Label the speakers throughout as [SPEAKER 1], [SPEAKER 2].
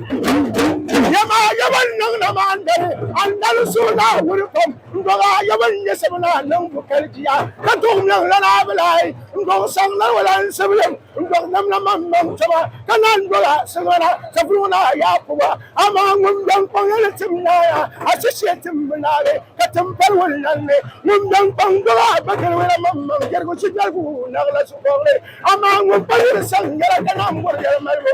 [SPEAKER 1] Yɛma yɛba n-niŋ na maa n-dali andali suhu ni a wuli kom n-dɔg a yɛba n-nyɛ sib ni a niŋ bu kali di a ka tɔg mɛŋ lan a bi lahi n-dɔg saŋ lan wala n-sib yɛm n-dɔg nam na man mɛŋ tɔba ka lan dɔg a saŋa na sapil ŋɔ ni a yaa pɔba amaa ŋun bɛn kpaŋ ya ni tim naaya a shishee tim bi naagi ka tim pali wun lan ni ŋun bɛn kpaŋ dɔg a ba kali wala man mɛŋ jɛrigu shijɛrigu naɣila su kɔbili amaa ŋun pa yuli saŋ yɛla ka naanbɔri yɛli malibu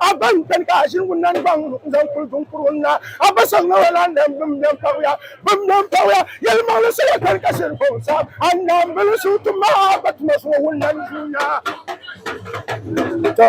[SPEAKER 1] A ba n tani ka a ʒini wunna n gbaŋ n zaŋ kuli duŋ kuri wunna. A ba soli ŋɔ lan lam bim mɛm paɣuya. Bim mɛm paɣuya yɛlimaŋli sola tani ka shiri buɣim saɣim a naanbili suhu tum a ba tuma zuŋɔ wunna n yuunya. Tɔ!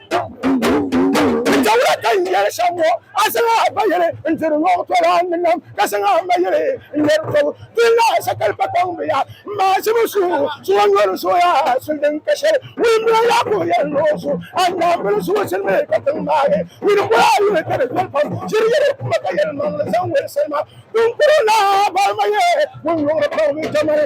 [SPEAKER 1] Dawla ka n yɛli shɛm ŋɔ, a zaŋ a ba yili n diri ŋɔ tɔla ni nam, ka zaŋ a ma yili n nɛri tɔbu. Dini la sakali pa kpaŋ bɛ ya, m maazimi su zuɣu nyɔri zooya suli din ka shɛli. Wulimbila Yaakubu yɛli ni o su, A Naawuni zuɣu zilimi ka tiŋ maagi. Wuli boli a yuli ka di viɛli pam, ʒiri yili kuma ka yɛlimaŋli zaŋ woli salima. Biŋkurigu naa boli ma ye wunyuŋli pam, Jamani!